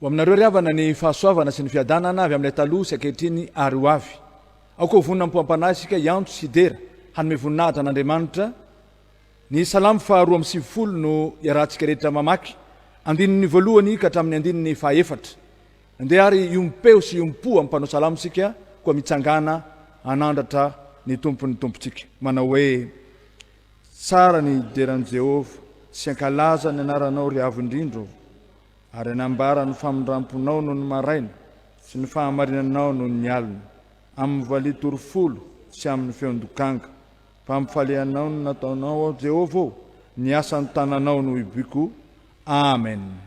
Ho aminareo ry havana ny fahasoavana sy ny fiadanana avy amin'ilay taloha sy ankehitriny ary ho avy. Aoka ho vonona amim-poam-panahy isika hiantso sy hidera hanome voninahitra an'Andriamanitra. Ny Salamo faha roa amby sivifolo no iarahantsika rehetra mamaky, andininy voalohany ka hatramin'ny andininy faha efatra. Andeha ary hiombom-peo sy hiombom-po amin'ny mpanao salamo isika, koa mitsangàna hanandratra ny Tompon'ny Tompontsika, manao hoe, Tsara ny hidera an'i Jehovah, sy hankalaza ny anaranao ry Avo indrindra ô. Ary hanambara ny famindramponao noho ny maraina, sy ny fahamarinanao noho ny alina, amin'ny valiha tory folo sy amin'ny feon-dokanga. Mpampifalianao no nataonao aho, Jehovah ô, ny asan'ny tananao no hiboiko. Amena.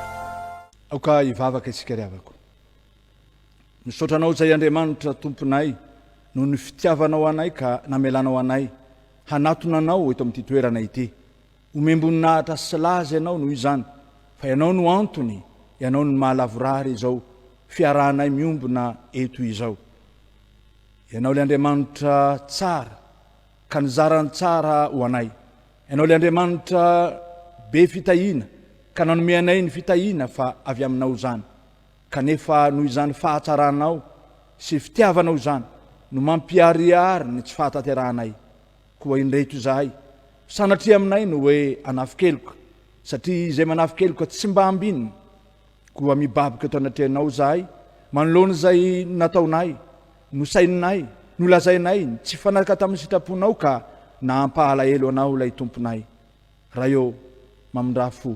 Aoka hivavaka isika ry havako. Misaotra Anao izay Andriamanitra Tomponay noho ny fitiavanao anay ka namelanao anay hanatona Anao eto amin'ity toerana ity. Omem-boninahitra sy laza Ianao noho izany fa Ianao no antony, Ianao no maha lavorary izao fiarahanay miombona eto izao. Ianao ilay Andriamanitra tsara ka nizara ny tsara ho anay. Ianao ilay Andriamanitra be fitahiana ka nanome anay ny fitahiana fa avy aminao izany, kanefa noho izany fahatsaranao sy fitiavanao izany no mampiharihary ny tsy fahatanterahanay, koa indreto izahay, sanatria aminay no hoe anafikeloka, satria izay manafikeloka tsy mba ambinina, Koa mibaboka eto anatrehanao izahay, manoloana izay nataonay, nosaininay, nolazainay, ny tsy mifanaraka tamin'ny sitraponao ka nahampalahelo anao ilay tomponay. Ray ô, mamindrà fo.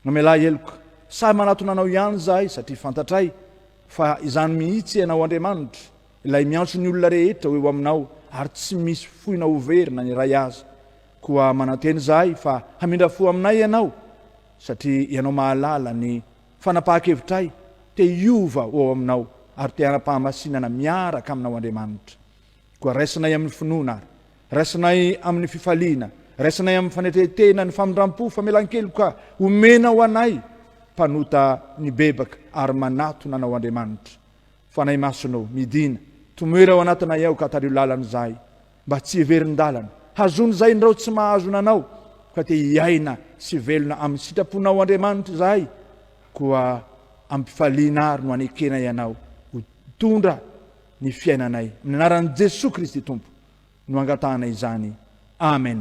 Mamelà heloka. Sahy manatona anao ihany izahay satria fantatray fa izany mihitsy ianao Andriamanitra, ilay miantso ny olona rehetra ho eo aminao ary tsy misy foinao ho very na ny iray aza. Koa manantena izahay fa hamindra fo aminay ianao Satria Ianao mahalala ny fanapahan-kevitray, te hiova ho ao Aminao, ary te hanam-pahamasinana miaraka Aminao Andriamanitra. Koa raisinay amin'ny finoana ary raisinay amin'ny fifaliana, raisinay amin'ny fanetren-tena ny famindram-po, famelan-keloka omena ho anay mpanota nibebaka ary manatona Anao Andriamanitra. Fanahy Masonao, midìna, tomoera ao anatinay ao ka tario lalana izahay. Mba tsy hiverin-dalana. Hazono izay ny rao tsy mahazo nanao, ka te hiaina sy velona amin'ny sitraponao Andriamanitra izahay, koa am-pifaliana ary no anekenay anao ho mpitondra ny fiainanay. Amin'ny anaran'i Jesoa Kristy Tompo no angatahanay izany. Amen.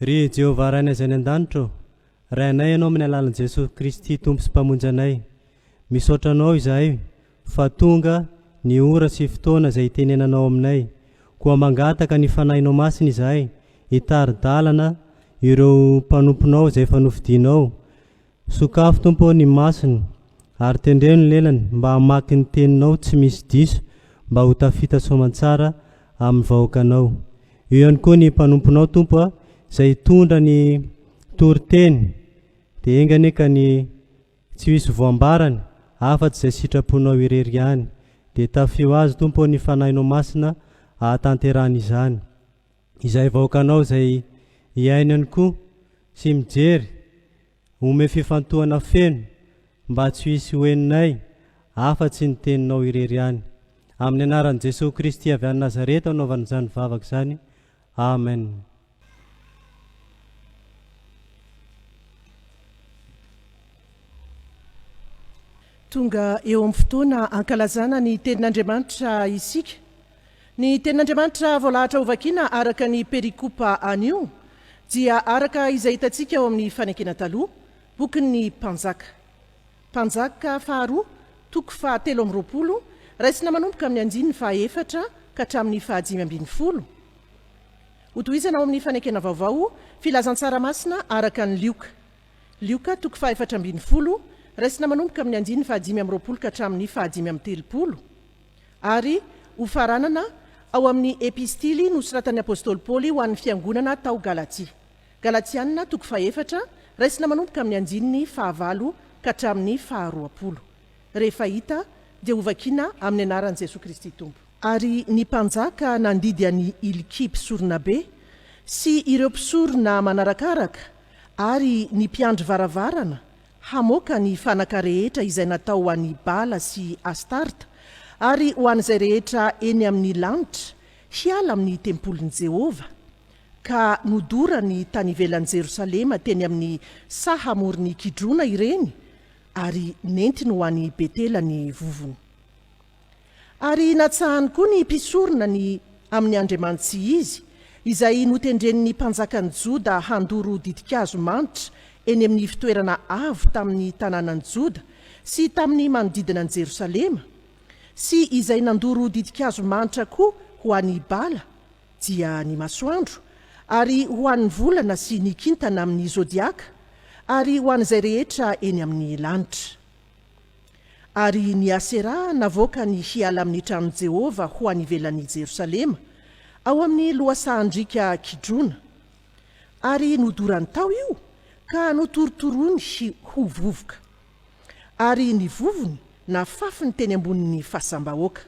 Ry Jehovah Rainay izay any an-danitra ô, Ray anay Ianao amin'ny alalan'i Jesosy Kristy Tompo sy Mpamonjy anay. Misaotra Anao izahay fa tonga ny ora sy fotoana izay hitenenanao aminay. Koa mangataka ny Fanahinao Masina izahay hitari-dalana ireo mpanomponao izay efa nofidianao Sokafy Tompo ô ny masony ary tendreno ny lelany mba hamaky ny teninao tsy misy diso mba ho tafita soamantsara amin'ny vahoakanao. Eo ihany koa ny mpanomponao Tompo a izay hitondra ny toriteny dia enga anie ka ny tsy hisy voambarany afatsy izay sitraponao irery ihany. Dia tafio azy Tompo ô ny fanahinao masina ahatanterahany izany. izay vahoakanao izay iainany koa sy mijery ome fifantohana feno mba tsy ho hisy ho henonay afa tsy ny teninao irery ihany amin'ny anaran'i Jesoa Kristy avy any Nazareta anaovana izany vavaka izany Amen. Tonga eo amin'ny fotoana hankalazana ny tenin'Andriamanitra isika. Ny Tenin'Andriamanitra voalahatra hovakiana araka ny perikopa anio dia araka izay hitantsika ao amin'ny Fanekena Taloha, bokin'ny Mpanjaka. Mpanjaka faharoa, toko fahatelo amby roapolo, raisina manomboka amin'ny andininy fahaefatra ka hatramin'ny fahadimy ambin'ny folo. Hotohizana ao amin'ny Fanekena Vaovao, Filazantsara Masina araka an'i Lioka. Lioka, toko fahefatra ambin'ny folo, raisina manomboka amin'ny andininy fahadimy amby roapolo ka hatramin'ny fahadimy amby telopolo. Ary, hofaranana, ao amin'ny Epistily nosoratan'ny apostoly Paoly ho an'ny fiangonana tao Galatia. Galatianina, toko fahefatra, raisina manomboka amin'ny andininy fahavalo ka hatramin'ny faharoapolo. Rehefa hita, dia hovakiana amin'ny anaran'i Jesoa Kristy Tompo. Ary ny mpanjaka nandidy an'i Ilkia mpisoronabe, sy ireo mpisorona manarakaraka, ary ny mpiandry varavarana, hamoaka ny fanaka rehetra izay natao ho an'i Bala sy Astarta, ary ho an'izay rehetra eny amin'ny lanitra, hiala amin'ny tempolin'i Jehovah. Ka nodorany tany ivelan'i Jerosalema teny amin'ny saha amoron'i Kidrona ireny, ary nentiny ho any Betela ny vovony. Ary natsahany koa ny mpisorona ny amin'ny andriamanitsy izy, izay notendren'ny mpanjakan'ny Joda handoro ditin-kazo manitra eny amin'ny fitoerana avo tamin'ny tanànan'i Joda sy tamin'ny manodidina an'i Jerosalema, sy izay nandoro ditin-kazo manitra koa ho an'i Bala, dia ny masoandro, ary ho an'ny volana sy ny kintana amin'ny zodiaka, ary ho an'izay rehetra eny amin'ny lanitra. Ary ny Asera navoaka ny hiala amin'ny tranon'i Jehovah ho any ivelan'i Jerosalema, ao amin'ny lohasahan-driaka Kidrona. Ary nodorany tao io, ka notorotoroiny ho vovoka. Ary ny vovony nafafiny teny ambonin'ny fasam-bahoaka.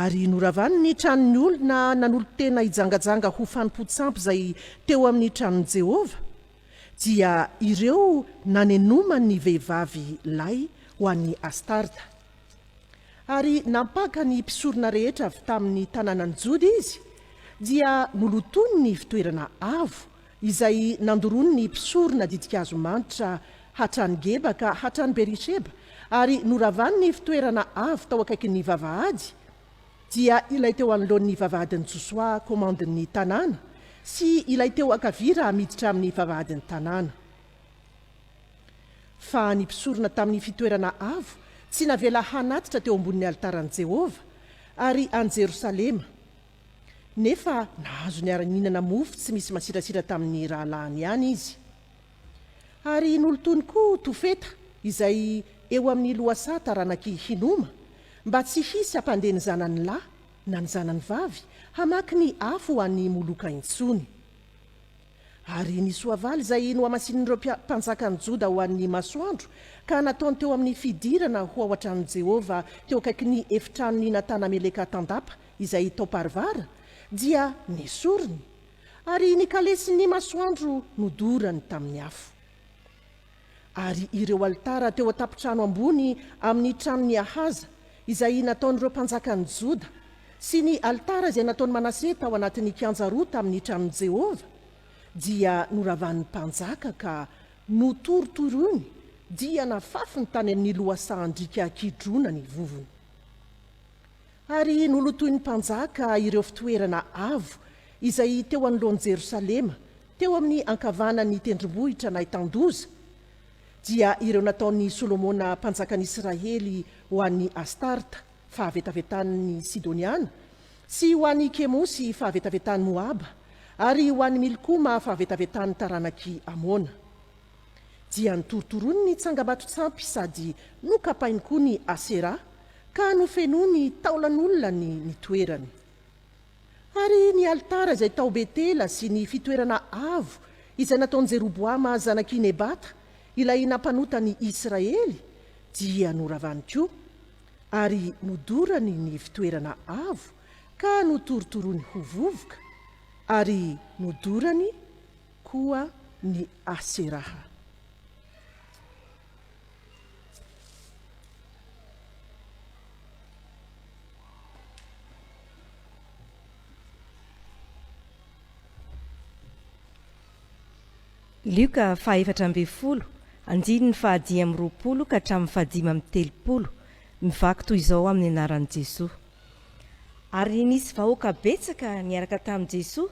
Ary noravany ny tranon'ny olona nanolo-tena hijangajanga ho fanompoan-tsampy izay teo amin'ny tranon'i Jehovah, dia ireo nanenoma ny vehivavy lahy ho an'i Astarta. Ary nampaka ny mpisorona rehetra avy tamin'ny tanànan'i Joda izy, dia nolotoiny ny fitoerana avo izay nandoroany ny mpisorona ditin-kazo manitra hatrany Geba ka hatrany Beri-sheba, ary noravany ny fitoerana avo tao akaikin'ny vavahady, dia ilay teo anoloan'ny vavahadin'i Josoa komandin'ny tanàna sy ilay teo ankavia raha miditra amin'ny vavahadin'ny tanàna. Fa ny mpisorona tamin'ny fitoerana avo tsy navela hanatitra teo ambonin'ny alitaran'i Jehovah, ary an'i Jerosalema, nefa nahazo niara-nihinana mofo tsy misy masirasira tamin'ny rahalahiny ihany izy. Ary nolotoiny koa Tofeta izay eo amin'ny lohasaha taranak'i Hinoma, mba tsy hisy hampandeha ny zanany lahy na ny zanany vavy hamaky ny afo ho an'i Moloka intsony. Ary ny soavaly izay nohamasinin'ireo mpanjakan'i Joda ho an'ny masoandro, ka nataony teo amin'ny fidirana ho ao an-tranon'i Jehovah teo akaikin'ny efitranon'i Natana Meleka Tandapa izay tao Parvara, dia nesoriny Ary ny kalesin'ny masoandro nodorany tamin'ny afo. Ary ireo alitara teo an-tampon-trano ambony amin'ny tranon'i Ahaza, izay nataon'ireo mpanjakan'i Joda, sy ny alitara izay nataon'i Manase tao anatin'ny kianja roa tamin'ny tranon'i Jehovah, dia noravan'ny mpanjaka ka notorotoroiny, dia nafafiny tany amin'ny lohasahan-driaka Kidrona ny vovony. Ary nolotoin'ny mpanjaka ireo fitoerana avo izay teo anoloan'i Jerosalema, teo amin'ny ankavanan'ny tendrombohitra nahitan-doza, dia ireo nataon'i Solomona mpanjakan'ny Israely ho an'i Astarta, fahavetavetan'ny Sidoniana, sy ho an'i Kemosy, fahavetavetan'i Moaba, ary ho an'i Milkoma, fahavetavetan'ny taranak'i Amona. dia notorotoroiny ny tsangambaton-tsampy sady nokapainy koa ny Asera ka nofenoiny taolan'olona ny ny toerany. Ary ny alitara izay tao Betela sy ny fitoerana avo izay nataon'i Jeroboama zanak'i Nebata ilay nampanota ny Israely dia noravany koa, ary nodorany ny fitoerana avo ka notorotoroiny ho vovoka, ary nodorany koa ny Aseraha. Lioka fahaefatra ambin'ny folo, andininy fahadimy amby roapolo ka hatramin'ny fahadimy amby telopolo, mivaky toy izao amin'ny anaran'i Jesoa. Ary nisy vahoaka betsaka niaraka tamin'i Jesoa,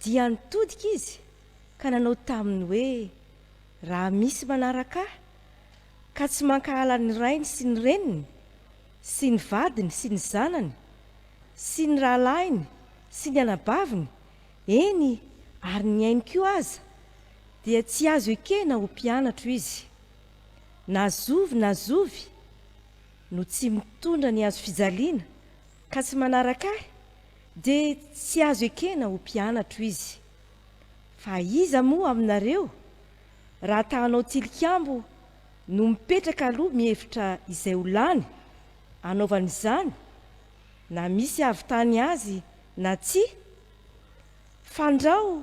dia nitodika izy ka nanao taminy hoe, Raha misy manaraka ahy, ka tsy mankahala ny rainy sy ny reniny, sy ny vadiny sy ny zanany, sy ny rahalahiny sy ny anabaviny, eny, ary ny ainy koa aza, dia tsy azo ekena ho mpianatro izy. Na zovy na zovy no tsy mitondra ny hazofijaliana ka tsy manaraka ahy, Dia tsy azo ekena ho mpianatro izy. Fa iza moa aminareo, raha ta hanao tilikambo, no mipetraka aloha mihevitra izay ho lany, hanaovany izany, na misy havitany azy na tsia? Fandrao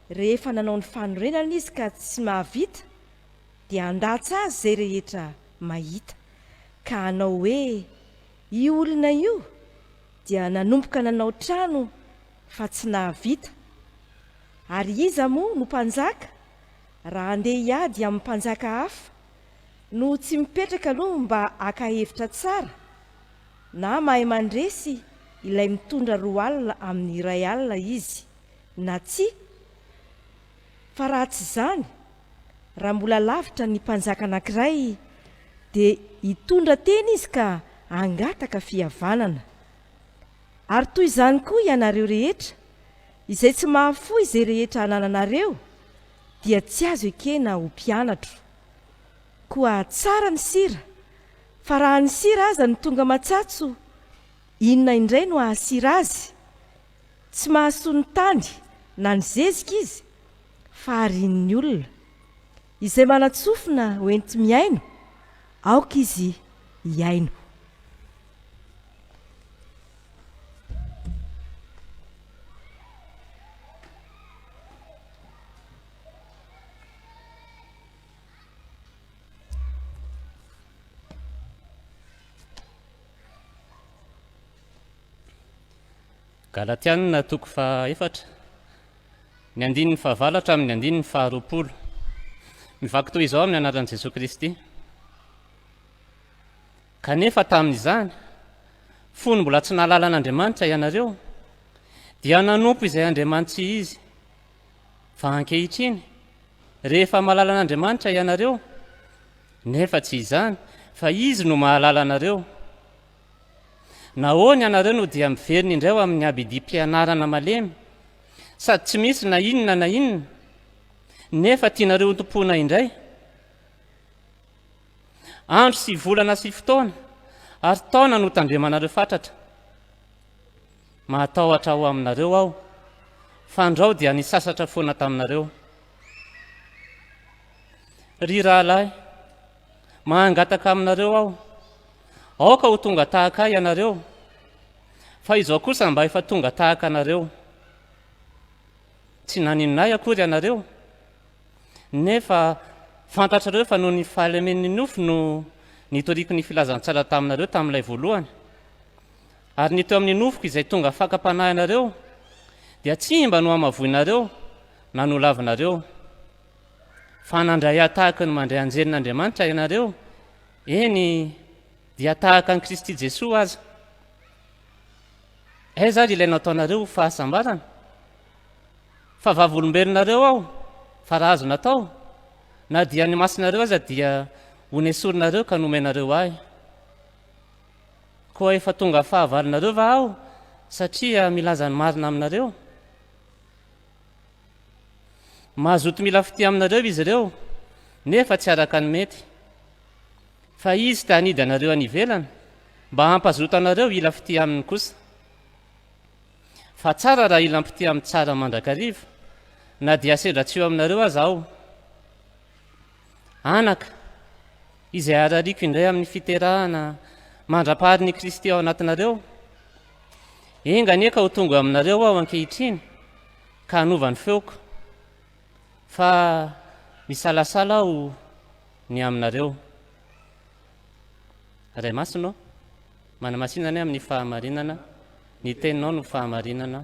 rehefa nanao ny fanorenana izy ka tsy mahavita, dia handatsa azy izay rehetra mahita, ka hanao hoe, Io olona io dia nanomboka nanao trano fa tsy nahavita. Ary iza moa no mpanjaka raha handeha hiady amin'ny mpanjaka hafa no tsy mipetraka aloha mba haka hevitra tsara na mahay mandresy ilay mitondra roa alina amin'ny iray alina izy na tsia? Fa raha tsy izany Raha mbola lavitra ny mpanjaka anankiray, dia hitondra teny izy ka hangataka fihavanana. Ary toy izany koa ianareo rehetra, izay tsy mahafoy izay rehetra anananareo, dia tsy azo ekena ho mpianatro. Koa tsara ny sira, fa raha ny sira aza no tonga matsatso, inona indray no hahasira azy? Tsy mahasoa ny tany na ny zezika izy, fa arian'ny olona. Izay manan-tsofina ho enti-mihaino, aoka izy hihaino. Galatiana toko faha efatra, ny andininy fahavalo hatramin'ny andininy faharoapolo. Mivaky toy izao amin'ny anaran'i Jesoa Kristy. Kanefa tamin'izany, fony mbola tsy nahalala an'Andriamanitra ianareo, dia nanompo izay andriamanitsy izy. Fa ankehitriny, rehefa mahalala an'Andriamanitra ianareo, nefa tsy izany, fa izy no mahalala anareo. Nahoana ianareo no dia miverina indray ho amin'ny habidim-pianarana malemy, sady tsy misy na inona na inona, nefa tianareo hotompoina indray? Andro sy volana sy fotoana ary taona no tandremanareo fatratra. Mahatahotra ho aminareo aho, fandrao dia nisasatra foana taminareo. Ry rahalahy, Mahangataka aminareo aho, aoka ho tonga tahaka ahy ianareo, fa izao kosa mba efa tonga tahaka anareo. Tsy naninona ahy akory ianareo, nefa fantatrareo fa noho ny fahalemen'ny nofo no nitoriako ny filazantsara taminareo tamin'ilay voalohany. Ary ny teo amin'ny nofoko izay tonga fakam-panahy anareo dia tsy mba nohamavoinareo na nolavinareo. Fa nandray ahy tahaka ny mandray anjelin'Andriamanitra ianareo, eny, dia tahaka an'i Kristy Jesoa aza. Aiza ary ilay nataonareo ho fahasambarana? Fa vavolombelonareo aho, fa raha azo natao, na dia ny masinareo aza dia honesorinareo ka nomenareo ahy. Koa efa tonga fahavalonareo va aho satria milaza ny marina aminareo? Mazoto mila fitia aminareo izy ireo, nefa tsy araka ny mety. Fa Izy te hanidy anareo any ivelany, mba hampazoto anareo hila fitia Aminy kosa. Fa tsara raha hila mpitia amin'ny tsara mandrakariva, na dia sendra tsy eo aminareo aza aho. Anaka, izay arariako indray amin'ny fiterahana mandra-parin' i Kristy ao anatinareo, enga anie ka ho tonga aminareo aho ankehitriny ka hanova ny feoko, fa misalasala aho ny aminareo. Ray Masina ô, manamasinana ahy amin'ny fahamarinana, ny Teninao no fahamarinana.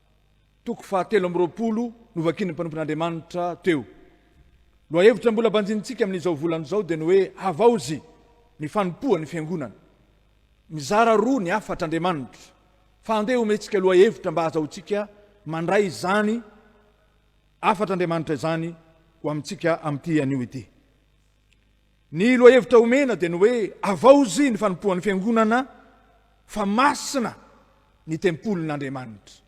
Toko fahatelo amby roapolo novakian'ny mpanompon'Andriamanitra teo. Lohahevitra mbola banjinintsika amin'izao volana izao dia ny hoe Havaozy ny fanompoan'ny Fiangonana. Mizara roa ny hafatra Andriamanitra fa andeha homentsika lohahevitra mba hahazahoantsika mandray izany hafatr'Andriamanitra izany ho amintsika amin'ity anio ity. Ny lohahevitra omena dia ny hoe havaozy ny fanompoan'ny Fiangonana fa masina ny tempolin'Andriamanitra.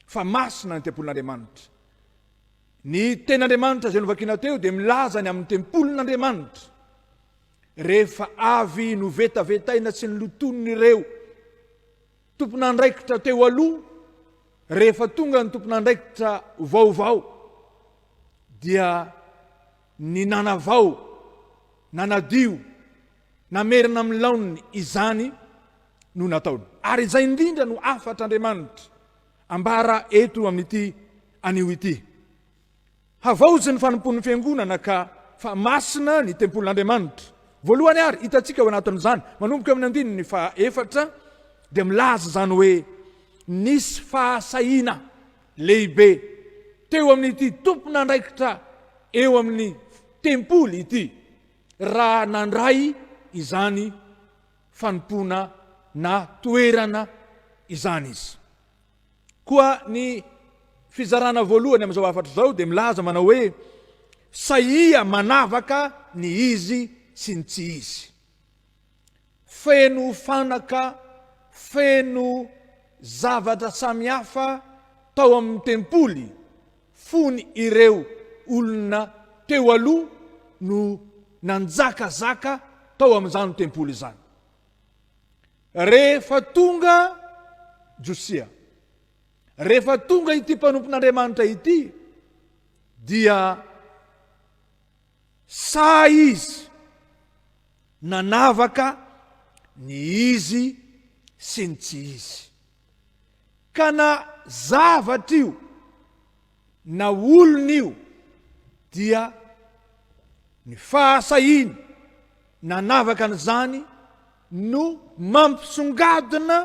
Fa masina ny tempolin'Andriamanitra. Ny tenin'Andriamanitra izay novakina teo dia milaza ny amin'ny tempolin'Andriamanitra. Rehefa avy novetavetaina sy nilotoin'ireo tompon'andraikitra teo aloha, rehefa tonga ny tompon'andraikitra vaovao dia Ny nanavao, nanadio, namerina amin'ny laoniny izany no nataony. Ary izay indrindra no hafatr'Andriamanitra ambara eto amin'ity anio ity, Havaozy ny fanompoan'ny Fiangonana ka fa masina ny tempolin'Andriamanitra. Voalohany ary hitantsika ao anatin'izany, manomboka amin'ny andininy faha efatra, dia milaza izany hoe nisy fahasahiana Lehibe teo amin'ity tompon'andraikitra eo amin'ny tempoly ity raha nandray izany fanompoana na toerana izany izy. Koa ny fizarana voalohany amin'izao hafatra izao dia milaza manao hoe, Sahia manavaka ny izy sy ny tsy izy. Feno fanaka, feno zavatra samihafa tao amin'ny tempoly fony ireo olona teo aloha no nanjakazaka tao amin'izany tempoly izany. Rehefa tonga Josia, rehefa tonga ity mpanompon'Andriamanitra ity dia Sahy izy nanavaka ny izy sy ny tsy izy. Ka na zavatra io na olona io dia ny fahasahiany nanavaka an'izany no mampisongadina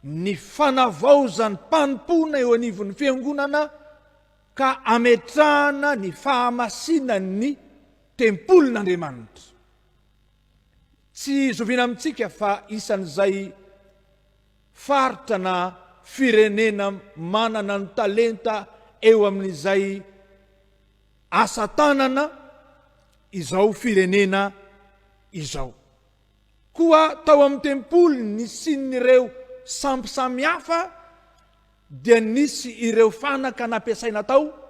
ny fanavaozan-panompoana eo anivon'ny Fiangonana, ka ametrahana ny fahamasinan'ny tempolin'Andriamanitra. Tsy zoviana amintsika fa isan'izay faritra na firenena manana ny talenta eo amin'izay asa tanana izao firenena izao. Koa tao amin'ny tempoly nisian'ireo sampy samihafa, dia nisy ireo fanaka nampiasaina tao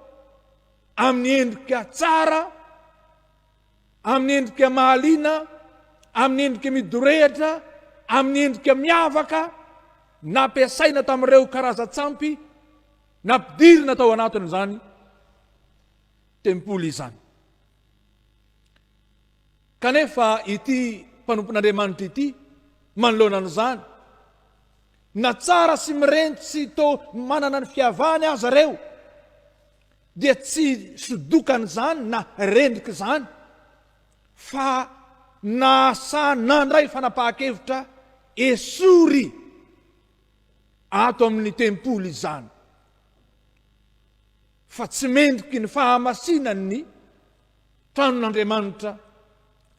amin'ny endrika tsara, amin'ny endrika mahaliana, amin'ny endrika midorehitra, amin'ny endrika miavaka, nampiasaina tamin'ireo karazan-tsampy nampidirina tao anatin'izany tempoly izany. Kanefa ity mpanompon'Andriamanitra ity manoloana an'izany Na tsara sy mirenty tsy to manana ny fiavany aza reo dia tsy sodokan zany na rendrik zany fa nasa nandray fanapahakevitra esory ato amin ny tempoly izany fa tsy mendriky ny fahamasinan ny tranon'Andriamanitra,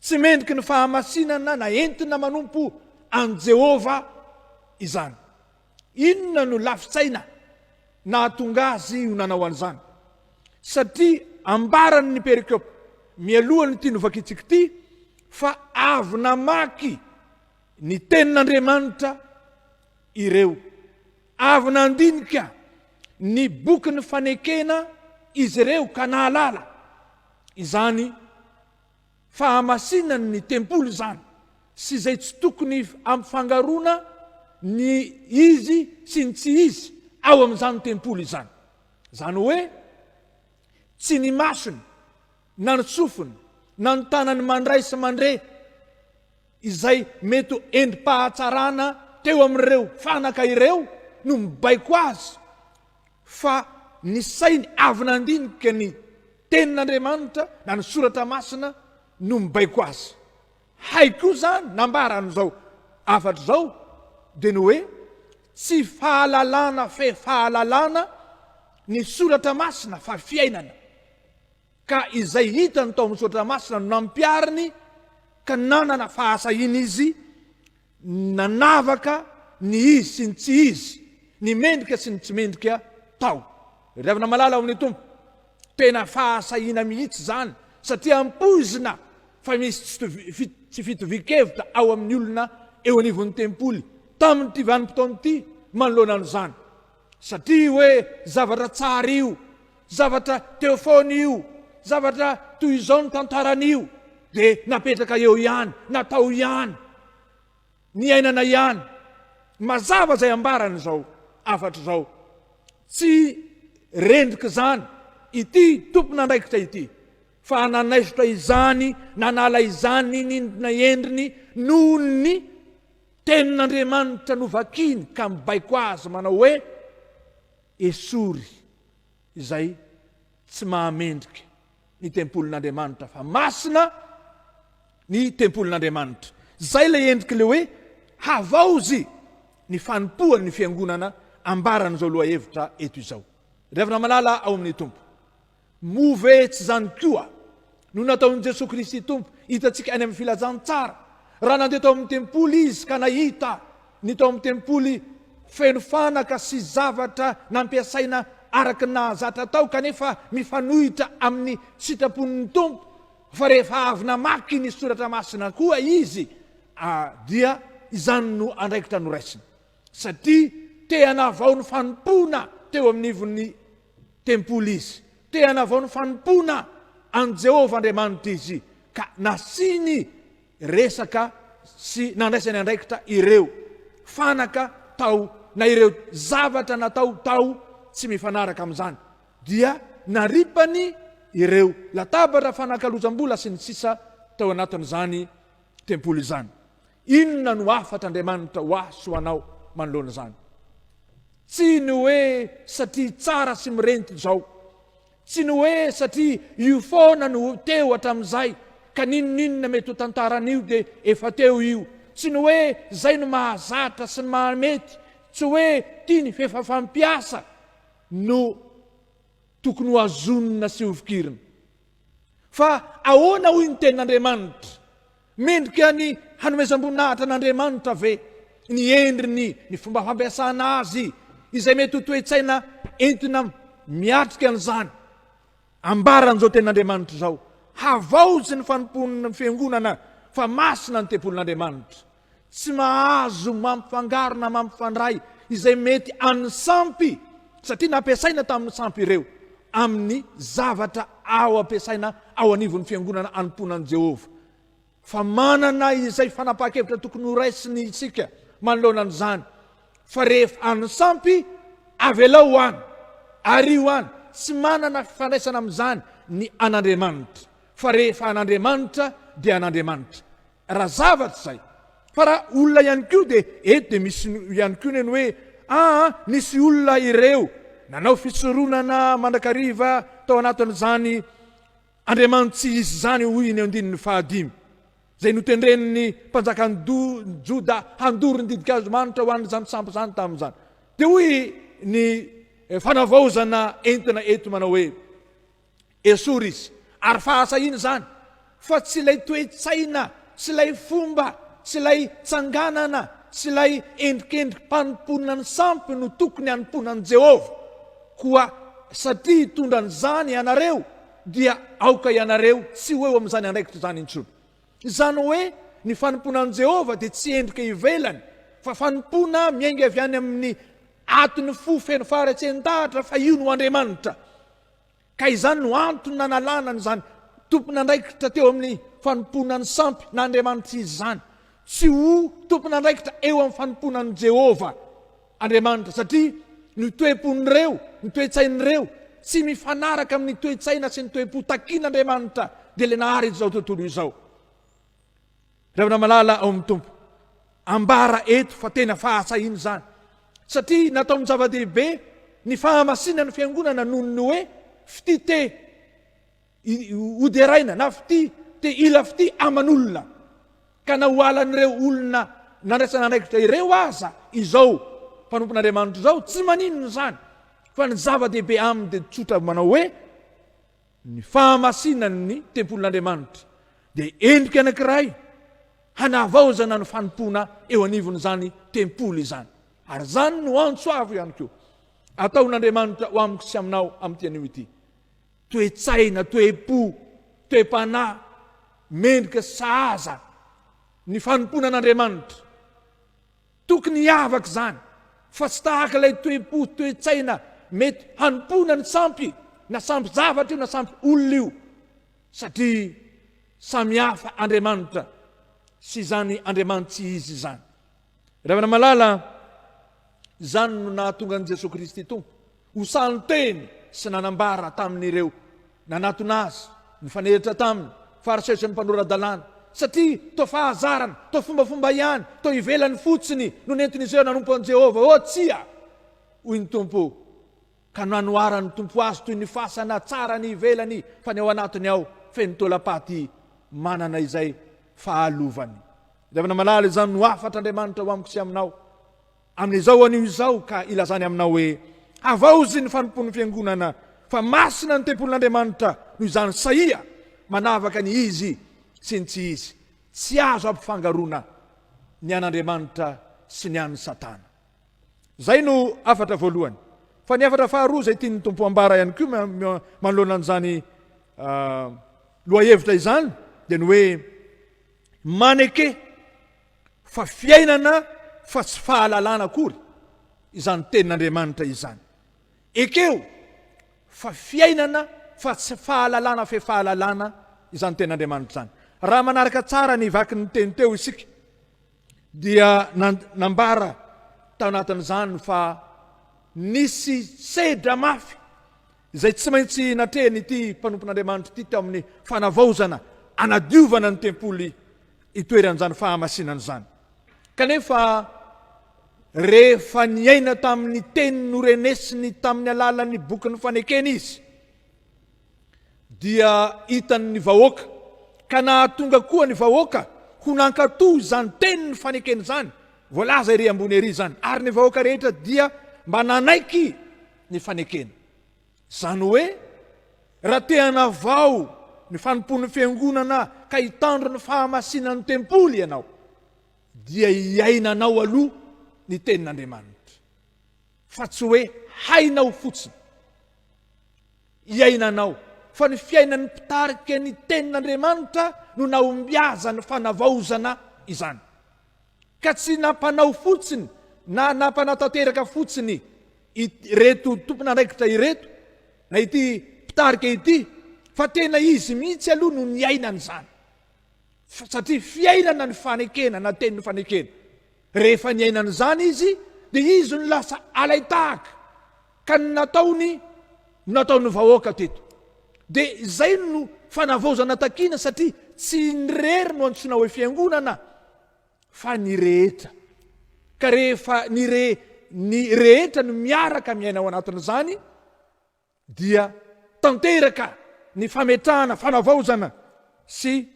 tsy mendriky ny fahamasinana na entina manompo an'i Jehovah izany. Inona no lafin-tsaina nahatonga azy ho nanao an'izany? Satria ambaran'ny perikopa mialohan'ity novakitsika ity fa avy namaky ny Tenin'Andriamanitra ireo Avy nandinika ny bokin'ny fanekena izy ireo ka nahalala izany fahamasinan'ny tempoly izany sy izay tsy tokony hampifangaroana ny izy sy ny tsy izy ao amin'izany tempoly izany. Izany hoe, tsy ny masony na ny sofiny na ny tanany mandray sy mandre, izay mety ho endri-pahatsarana teo amin'ireo fanaka ireo no mibaiko azy fa ny sainy avy nandinika ny Tenin'Andriamanitra na ny Soratra Masina no mibaiko azy. Hay koa izany nambaran'izao hafatra izao dia ny hoe tsy fahalalana fe fahalalana ny Soratra Masina fa fiainana. Ka izay hitany tao amin'ny soratra masina no nampihariny, ka nanana fahasahiana izy, nanavaka ny izy sy ny tsy izy, ny mendrika sy ny tsy mendrika tao. Ry havana malala ao amin'ny Tompo, tena fahasahiana mihitsy izany, satria ampoizina fa misy tsy fitovian-kevitra ao amin'ny olona eo anivon'ny tempoly, tamin'ity vanim-potoana ity, manoloana an'izany. Satria hoe zavatra tsara io, zavatra teo foana io, zavatra toy izao ny tantaran'io, dia napetraka eo ihany, natao ihany, niainana ihany. Mazava izay ambarany izao, afatr'izao. Tsy rendrik'izany ity tompon'andraikitra ity, fa nanaisotra izany, nanala izany nindrina endriny noho ny. Tenin'Andriamanitra novakiny ka mibaiko azy manao hoe, Esory izay tsy mahamendrika ny tempolin'Andriamanitra fa masina ny tempolin'Andriamanitra. Izay ilay endrik'ilay hoe havaozy ny fanompoan'ny fiangonana ambaran'izao lohahevitra eto izao. Ry havana malala ao amin'ny Tompo. Moa ve tsy izany koa no nataon'i Jesoa Kristy Tompo, hitantsika any amin'ny Filazantsara, raha nandeha tao amin'ny tempoly Izy ka nahita ny tao amin'ny tempoly feno fanaka sy zavatra nampiasaina araka ny nahazatra tao kanefa mifanohitra amin'ny sitrapon'ny Tompo, fa rehefa avy namaky ny Soratra Masina koa Izy dia izany no andraikitra noraisiny, satria te-hanavao ny fanompoana teo amin'ny ivon'ny. Tempoly izy. Te hanavao ny fanompoana an'i Jehovah Andriamanitra izy, ka nasiany resaka sy nandraisany andraikitra ireo fanaka tao na ireo zavatra natao tao tsy mifanaraka amin'izany, dia naripany ireo latabatra fanakalozam-bola sy ny sisa tao anatin'izany tempoly izany. Inona no hafatr'Andriamanitra ho ahy sy ho anao manoloana izany? Tsy ny hoe satria tsara sy mirenty izao, tsy ny hoe satria io foana no teo hatramin'izay, ka n'inon'inona mety ho tantara anio dia efa teo io, tsy ny hoe izay no mahazatra sy ny mahamety, tsy hoe tia ny f'efa fampiasa no tokony ho hazonina sy hofikirina. Fa ahoana hoy ny tenin'Andriamanitra? Mendrika ny hanomezam-boninahitra an'Andriamanitra ve ny endriny, ny fomba fampiasana azy, izay mety ho toe-tsaina entina miatrika an'izany? Ambaran'izao Tenin'Andriamanitra izao, Havaozy ny fanompoan'ny fiangonana, fa masina ny tempolin'Andriamanitra. Tsy mahazo mampifangaro na mampifandray izay mety an'ny sampy satria nampiasaina tamin'ny sampy ireo amin'ny zavatra ao ampiasaina ao anivon'ny fiangonana anompoanan'i Jehovah. Fa manana izay fanapahan-kevitra tokony horaisiny isika manoloana an'izany, fa rehefa an'ny sampy, avelao ho any, ario any, tsy manana fifandraisana amin'izany ny an'Andriamanitra, fa rehefa an'Andriamanitra dia an'Andriamanitra. Raha zavatra izay. Fa raha olona ihany koa dia eto dia misy ihany koa ny an'ny hoe aa nisy olona ireo nanao fisoronana mandrakariva tao anatin'izany Andriamanitsy izy izany hoy ny andininy fahadimy izay notendren'ny mpanjakan'ny Joda handoro ny didikazo manitra ho an'izany sampy izany tamin'izany. Dia hoy ny eh, fanavaozana entina eto manao hoe Esory izy, ary fahasahiana izany, fa tsy ilay toe-tsaina, tsy ilay fomba, tsy ilay tsanganana, tsy ilay endrikendri-panompoana ny sampy no tokony hanompoana an'i Jehovah. Koa satria hitondra an'izany ianareo, dia aoka ianareo tsy ho eo amin'izany andraikitra izany intsony. Izany hoe ny fanompoana an'i Jehovah dia tsy endrika ivelany, fa fanompoana miainga avy any amin'ny aton'ny fo feno faharetsentahatra fa io no Andriamanitra. Ka izany no antony nanalana an'izany tompon'andraikitra teo amin'ny fanompoana ny sampy na andriamanitr'izy izany, tsy ho tompon'andraikitra eo amin'ny fanompoana an'i Jehovah Andriamanitra, satria ny toe-pon'ireo, ny toe-tsain'ireo, tsy mifanaraka amin'ny toe-tsaina sy ny toe-po takin'Andriamanitra, dia ilay nahary izao tontolo izao. Ravina malala ao amin'ny Tompo. Ambara eto fa tena fahasahiana izany, satria nataony zava-dehibe ny fahamasinana ny fiangonana noho ny hoe fitia te hoderaina na fitia te hila fitia aman'olona, ka na ho alan'ireo olona nandraisana andraikitra ireo aza izao mpanompon'Andriamanitra izao tsy maninona izany, fa ny zava-dehibe aminy dia tsotra manao hoe. Ny fahamasinany ny tempolin'Andriamanitra dia endrika anankiray hanavaozana ny fanompoana eo anivon'izany tempoly izany. Ary izany no antso avo ihany koa ataon'Andriamanitra ho amiko sy aminao amin'ity anio ity. Toe-tsaina, toe-po, toe-panahy mendrika sahaza ny fanompoana an'Andriamanitra. Tokony hiavaka izany fa tsy tahaka ilay toe-po, toe-tsaina mety hanompoana ny sampy, na sampy-javatra io na sampy-olona io, satria samihafa Andriamanitra sy izany Andriamanitsy izy izany. Ry havana malala, izany no nahatonga an'i Jesoa Kristy Tompo Osaly teny sy nanambara tamin'ireo nanatona azy nifanehitra taminy fa arsesy ny mpanora-dalàna satria toa fahazarana, toa fombafomba ihany, toa ivelany fotsiny no nentin'izy ireo nanompo an'i Jehovah. Oh, tsia! hoy ny Tompo, ka nanoharan'ny Tompo azy toy ny fasana tsara ny ivelany fa ny ao anatiny ao feno taolam-paty manana izay fahalovany. Ilevana malala izany no hafatr'Andriamanitra ho amiko sy aminao. Amin'izao anio izao ka ilazany aminao hoe, Havaozy ny fanompoan'ny Fiangonana, fa masina ny tempolin'Andriamanitra, noho izany sahia manavaka ny izy sy ny tsy izy. Tsy azo ampifangaroana ny an'Andriamanitra sy ny an'i Satana. Izay no hafatra voalohany. Fa ny hafatra faharoa izay tian'ny Tompo hambara ihany koa manoloana an'izany lohahevitra izany dia ny hoe maneke Fa fiainana fa tsy fahalalana akory izany tenin'Andriamanitra izany. Ekeo fa fiainana fa tsy fahalalana fe fahalalana izany tenin'Andriamanitra izany. Raha manaraka tsara ny vaky ny teny teo isika dia nambara tao anatin'izany fa nisy sedra mafy izay tsy maintsy natrehin'ity mpanompon'Andriamanitra ity teo amin'ny fanavaozana anadiovana ny tempoly itoeran'izany fahamasinana izany. Kanefa rehefa niaina tamin'ny teny norenesiny tamin'ny alalan'ny bokin'ny fanekena izy, dia hitan'ny vahoaka, ka nahatonga koa ny vahoaka ho nankatò izany teny ny fanekena izany, voalaza ery ambony ery izany, ary ny vahoaka rehetra dia mba nanaiky ny fanekena. Izany hoe, raha te hanavao ny fanompoan'ny Fiangonana ka hitandro ny fahamasinan'ny tempoly ianao, dia iainanao aloha ny Tenin'Andriamanitra, fa tsy hoe hainao fotsiny. Iainanao, fa ny fiainan'ny mpitarika ny Tenin'Andriamanitra no nahombiazan'ny fanavaozana izany. Ka tsy nampanao fotsiny na nampanatanteraka fotsiny ireto tompon'andraikitra ireto na ity mpitarika ity fa tena izy mihitsy aloha no niaina an'izany satria fiainana ny fanekena na teny ny fanekena rehefa niaina an'izany izy dia izy no lasa alaitahaka ka ny nataony no nataon'ny vahoaka teto dia izay no fanavaozana takiana satria tsy ny rery no antsoina hoe fiangonana fa ny rehetra. Ka rehefa ny re ny rehetra no miaraka miaina ao anatin'izany dia tanteraka ny fametrahana fanavaozana sy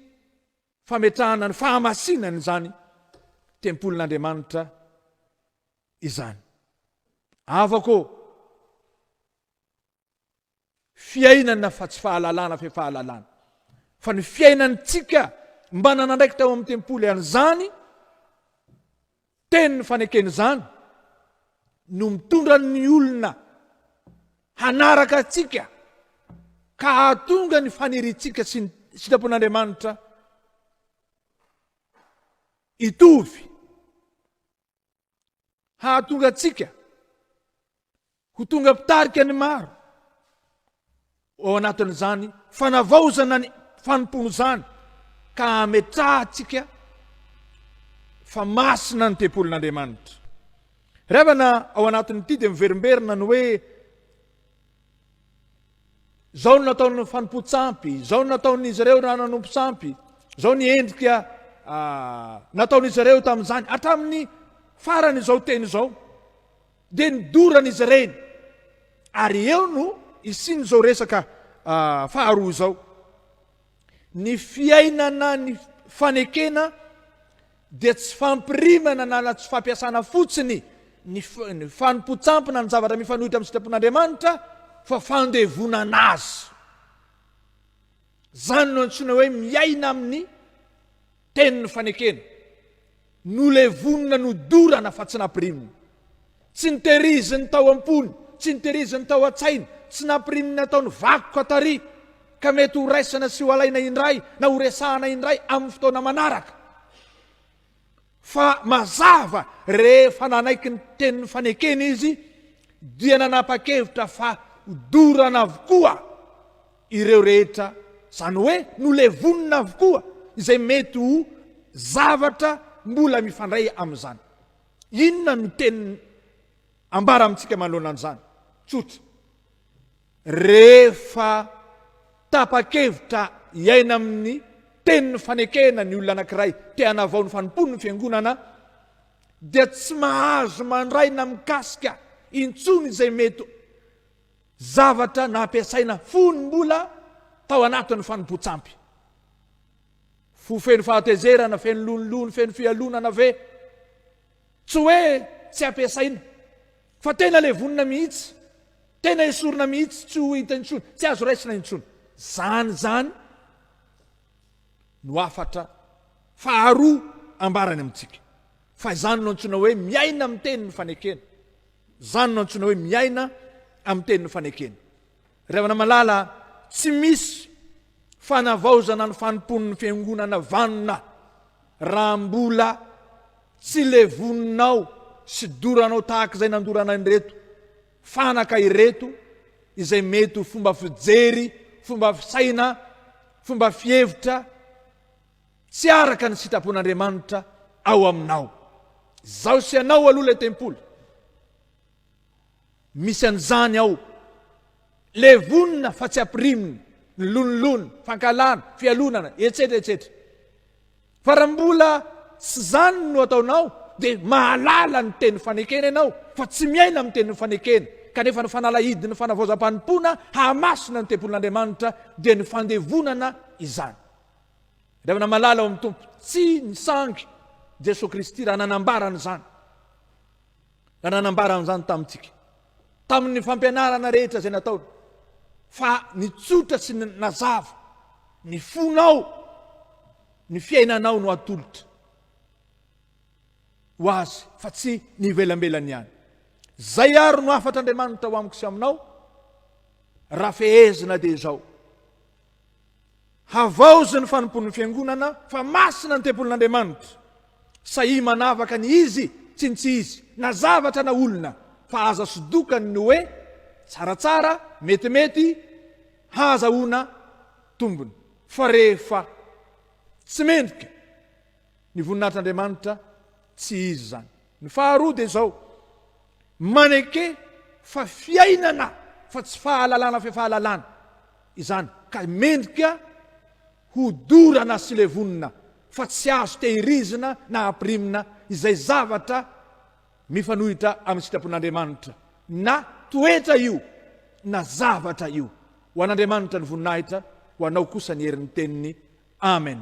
fametrahana ny fahamasinana izany tempolin'Andriamanitra izany. Avako fiainana fa tsy fahalalana fe fahalalana fa ny fiainantsika mba nanandraikitra ao amin'ny tempoly an'izany teniny fanekeny izany no mitondra ny olona hanaraka atsika ka hahatonga ny faniritsika sy ny sitrapon'andriamanitra itovy hahatonga antsika ho tonga mpitarika ny maro ao anatin'izany fanavaozana ny fanompoana izany ka hametrahantsika fa masina ny tempolin'Andriamanitra. Ravana ao anatin'ity dia miverimberina ny hoe Izao no nataon'ny fanompoan-tsampy, izao no nataon'izy ireo raha nanompo sampy, izao ny endrika ah, nataon'izy ireo tamin'izany, hatramin'ny farany izao teny izao, dia nidorana izy ireny. Ary eo no isin'izao resaka ah, faharoa izao. Ny fiainana ny fanekena dia tsy fampirimana na na tsy fampiasana fotsiny ny ny fanompoan-tsampona ny zavatra mifanohitra amin'ny sitrapon'Andriamanitra fa fandevonana azy. Izany no antsoina hoe miaina amin'ny tenin'ny fanekena. Nolevonina, nodorana fa tsy nampirimina. Tsy notehiriziny tao am-pony, tsy notehiriziny tao an-tsainy, tsy nampiriminy nataony vakoka tary, ka mety ho raisana sy ho alaina indray na ho resahana indray amin'ny fotoana manaraka. Fa mazava, rehefa nanaiky ny tenin'ny fanekena izy, dia nanapa-kevitra fa ho dorana avokoa ireo rehetra, izany hoe nolevonina avokoa izay mety ho zavatra mbola mifandray amin'izany. Inona no teny ambara amintsika manoloana an'izany? Tsotra. Rehefa tapa-kevitra hiaina amin'ny tenin'ny fanekena ny olona anankiray te hanavao ny fanompoany ny Fiangonana, dia tsy mahazo mandray na mikasika intsony izay mety zavatra nampiasaina fony mbola tao anatin'ny fanompoan-tsampy. Fo feno fahatezerana, feno lonilony, feno fialonana ve? Tsy hoe tsy ampiasaina, fa tena levonina mihitsy, tena esorina mihitsy, tsy ho hita intsony, tsy azo raisina intsony. Izany izany no hafatra faharoa ambarany amintsika, fa izany no antsoina hoe miaina amin'ny tenin'ny fanekena. Izany no antsoina hoe miaina amin'ny tenin'ny fanekena. Ry havana malala, tsy misy fanavaozana ny fanompoan'ny fiangonana vanona raha mbola tsy levoninao sy doranao tahaka izay nandorana an'ireto fanaka ireto izay mety ho fomba fijery, fomba fisaina, fomba fihevitra tsy araka ny sitrapon'Andriamanitra ao aminao. Zao sy anao aloha ilay tempoly. Misy an'izany ao. Levonina fa tsy ampirimina, ny lonilony, fankahalana, fialonana, etsetra etsetra. Fa raha mbola tsy izany no ataonao dia mahalala ny teny fanekena ianao fa tsy miaina amin'ny teny fanekena, kanefa ny fanalahidin'ny fanavaozam-panompoana hahamasina ny tempolin'Andriamanitra dia ny fandevonana izany. Ry havana malala ao amin'ny Tompo, tsy ny sangy Jesoa Kristy raha nanambara an'izany. Raha nanambara an'izany tamintsika, tamin'ny fampianarana rehetra izay nataony, fa nitsotra sy nazava ny fonao, ny fiainanao no atolotra ho azy, fa tsy ny ivelambelany ihany. Zay ary no hafatr'Andriamanitra ho amiko sy aminao, raha fehezina dia izao. Havaozy ny fanompoan'ny Fiangonana fa masina ny tempolin'Andriamanitra. Sahia manavaka ny izy sy ny tsy izy, na zavatra na olona, fa aza sodokany ny hoe tsaratsara, metimety, hahazahoana tombony. Fa rehefa tsy mendrika. Ny voninahitr'Andriamanitra tsy izy izany. Ny faharoa dia izao, maneke fa fiainana fa tsy fahalalana fe fahalalana izany ka mendrika ho dorana sy levonina fa tsy azo tehirizina na ampirimina izay zavatra mifanohitra amin'ny sitrapon'Andriamanitra na toetra io na zavatra io. Ho an'Andriamanitra ny voninahitra, ho anao kosa ny herin'ny teniny. Amen.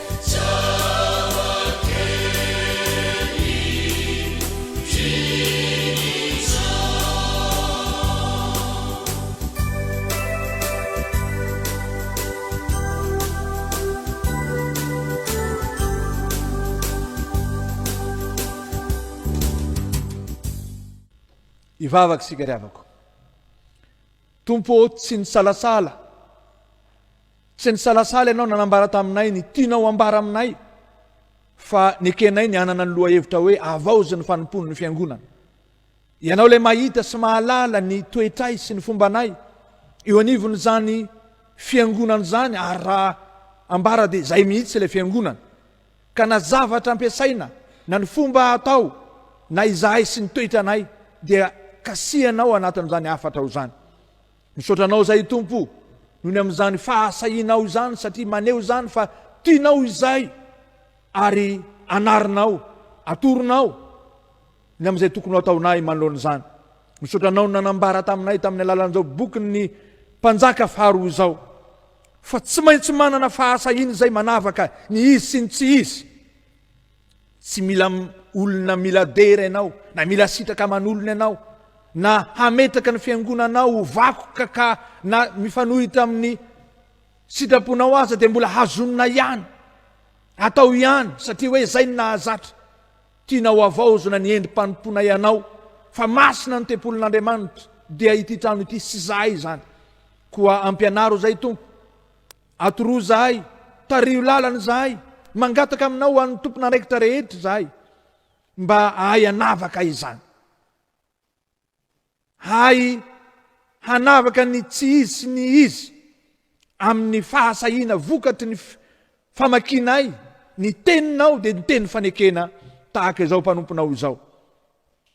Hivavaka isika ry havako. Tompo ô, tsy nisalasala Tsy nisalasala ianao nanambara taminay ny tianao hambara aminay, fa nekenay ny hanana ny lohahevitra hoe Havaozy ny Fanompoan'ny Fiangonana. Ianao ilay mahita sy mahalala ny toetray sy ny fombanay eo anivon'izany Fiangonana izany, ary raha ambara dia izay mihitsy ilay Fiangonana. Ka na zavatra ampiasaina, na ny fomba atao, na izahay sy ny toetranay, dia kasihanao anatin'izany hafatrao izany. Misaotra anao izay Tompo nony amin'izany fahasahianao izany satria maneho izany fa tianao izay ary anarinao, atoronao ny amin'izay tokony hataonay manoloana izany. Misaotra anao ny nanambara taminay tamin'ny alalan'izao bokin'ny mpanjaka faharoa izao fa tsy maintsy manana fahasahiana izay manavaka ny izy sy ny tsy izy. Tsy mila olona miladera ianao, na mila sitraka aman'olona ianao, na hametraka ny fiangonanao ho vakoka ka na mifanohitra amin'ny sitraponao aza dia mbola hazonina ihany. Atao ihany satria hoe izay ny nahazatra. Tianao havaozina ny endri-panompoanay anao fa masina ny tempolin'Andriamanitra dia ity trano ity sy izahay izany. Koa ampianaro izay Tompo. Atoroy izahay, tariho lalana izahay, mangataka aminao ho an'ny tompon'andraikitra rehetra izahay mba hahay hanavaka izany. Hahay hanavaka ny tsy izy sy ny izy amin'ny fahasahiana vokatry ny famakinay ny teninao dia ny teny fanekena tahaka izao mpanomponao izao.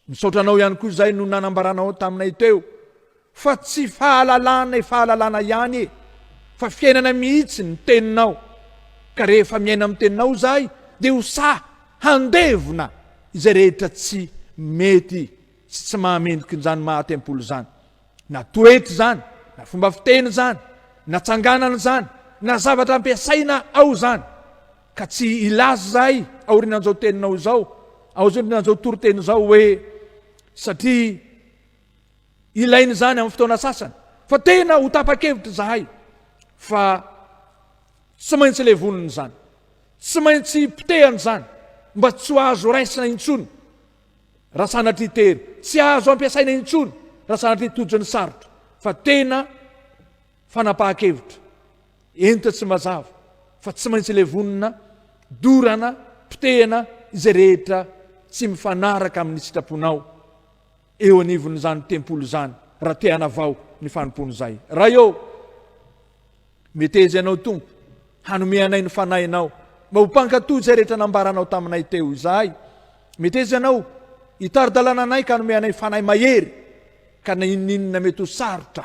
Misaotra anao ihany koa izay no nanambaranao taminay teo fa tsy fahalalana e fahalalana ihany e fa fiainana mihitsy ny teninao ka rehefa miaina amin'ny teninao izahay dia ho sahy handevona izay rehetra tsy mety sy tsy mahamendrika izany maha tempoly izany na toetra izany na fomba fiteny izany na tsanganana izany na zavatra ampiasaina ao izany Ka tsy hilaza izahay aorianan'izao teninao izao, aorianan'izao toriteny izao hoe satria ilaina izany amin'ny fotoana sasany. Fa tena ho tapa-kevitra izahay fa tsy maintsy levonina izany, tsy maintsy potehana izany mba tsy ho azo raisina intsony raha sanatria tery, tsy azo ampiasaina intsony raha sanatria tojo ny sarotra, fa tena fanapahan-kevitra. Eny toa tsy mazava fa tsy maintsy levonina, dorana, potehina izay rehetra tsy mifanaraka amin'ny sitraponao eo anivon'izany tempoly izany raha te hanavao ny fanompoan'izay. Ray ô, meteza ianao Tompo hanome anay ny fanahinao mba ho mpankatò izay rehetra nambaranao taminay teo izahay. Meteza ianao hitari-dalana anay ka hanome anay fanahy mahery ka na inona inona mety ho sarotra.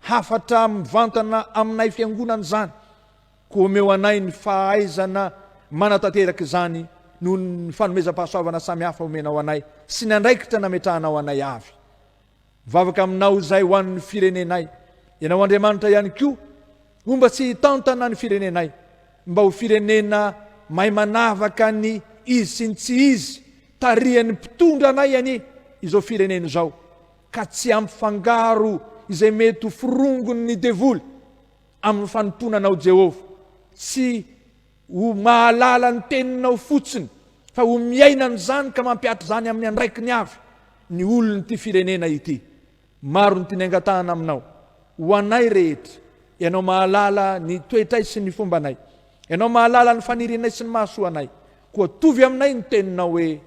Hafatra mivantana aminay fiangonana izany, koa omeo anay ny fahaizana manatanteraka izany noho ny fanomezam-pahasoavana samihafa omenao anay sy ny andraikitra nametrahanao anay avy. Mivavaka aminao izay ho an'ny firenenay, ianao Andriamanitra ihany koa homba sy hitantana ny firenenay mba ho firenena mahay manavaka ny izy sy ny tsy izy, tarihan'ny mpitondra anay anie izao firenena izao. ka tsy hampifangaro izay mety ho firongon'ny devoly amin'ny fanompoana anao Jehovah, tsy ho mahalala ny teninao fotsiny fa ho miaina an'izany ka mampihatra izany amin'ny andraikiny avy ny olon'ity firenena ity. Maro ny tiany angatahana aminao. Ho anay rehetra, Ianao mahalala ny toetray sy ny fombanay. Ianao mahalala ny fanirianay sy ny mahasoa anay. Koa tovy aminay ny teninao hoe.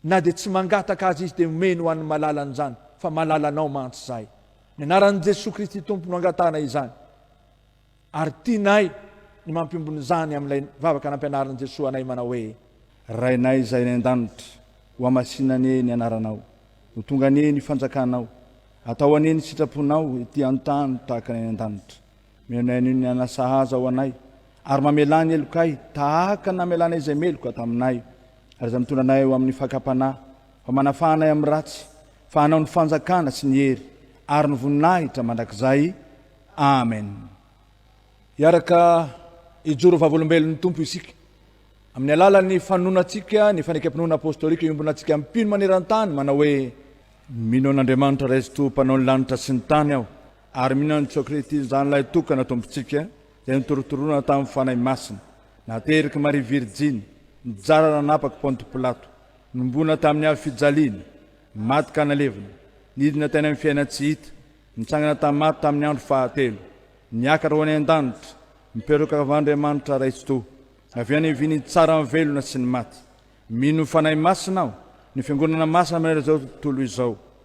Na dia tsy mangataka aza izy dia omeny ho an'ny malalany izany fa malalanao mantsy izahay. Ny anaran'i Jesoa Kristy Tompo no angatahana izany. Ary tianay ny mampiombona izany amin'ilay vavaka nampianarin'i Jesoa anay manao hoe. Rainay izay any an-danitra, hohamasina anie ny anaranao, ho tonga anie ny fanjakanao, atao anie ny sitraponao ety an-tany tahaka ny any an-danitra. Mihainohaino ny anà sahaza ao anay, ary mamelà ny helokay tahaka ny namelanay izay meloka taminay, ary izay mitondra anay ho amin'ny fakam-panahy, fa manafaha anay amin'ny ratsy, fa anao ny fanjakana sy ny hery ary ny voninahitra mandrakizay. Amen. Hiaraka hijoro ho vavolombelon'ny Tompo isika, amin'ny alalan'ny fanononantsika ny fanekempinoana apostolika iombonantsika mpino maneran-tany manao hoe. Mino an'Andriamanitra Ray Zotoa Mpanao ny lanitra sy ny tany aho, Ary mino an'i Jesoa Kristy izany ilay tokana Tompontsika izay notorotorona tamin'ny Fanahy Masina, naterak'i Maria Virjiny, nijara nanapak'i Ponto Pilato, nombona tamin'ny hazo fijaliana, maty ka nalevina, nidina tany amin'ny fiaina tsy hita, nitsangana tamin'ny maty tamin'ny andro fahatelo, niakatra ho any an-danitra, mipetraka kavan'Andriamanitra Ray Tsitoha, avy any vy nitsara ny velona sy ny maty. Mino ny Fanahy Masina aho, ny Fiangonana Masina mandritra izao tontolo izao,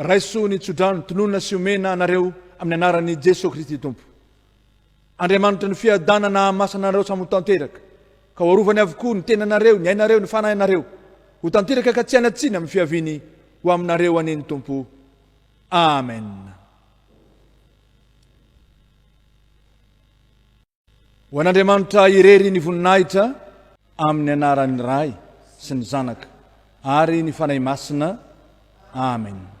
Raiso ny tsodrano, tononina sy omena anareo amin'ny anaran'i Jesoa Kristy Tompo. Andriamanitry ny fiadanana hahamasina anareo samy ho tanteraka, ka ho arovany avokoa ny tenanareo, ny ainareo, ny fanahinareo, ho tanteraka ka tsy hanatsina amin'ny fiaviany ho aminareo anie ny Tompo. Amen. Ho an'Andriamanitra irery ny voninahitra amin'ny anaran'ny Ray sy ny Zanaka ary ny Fanahy Masina. Amen.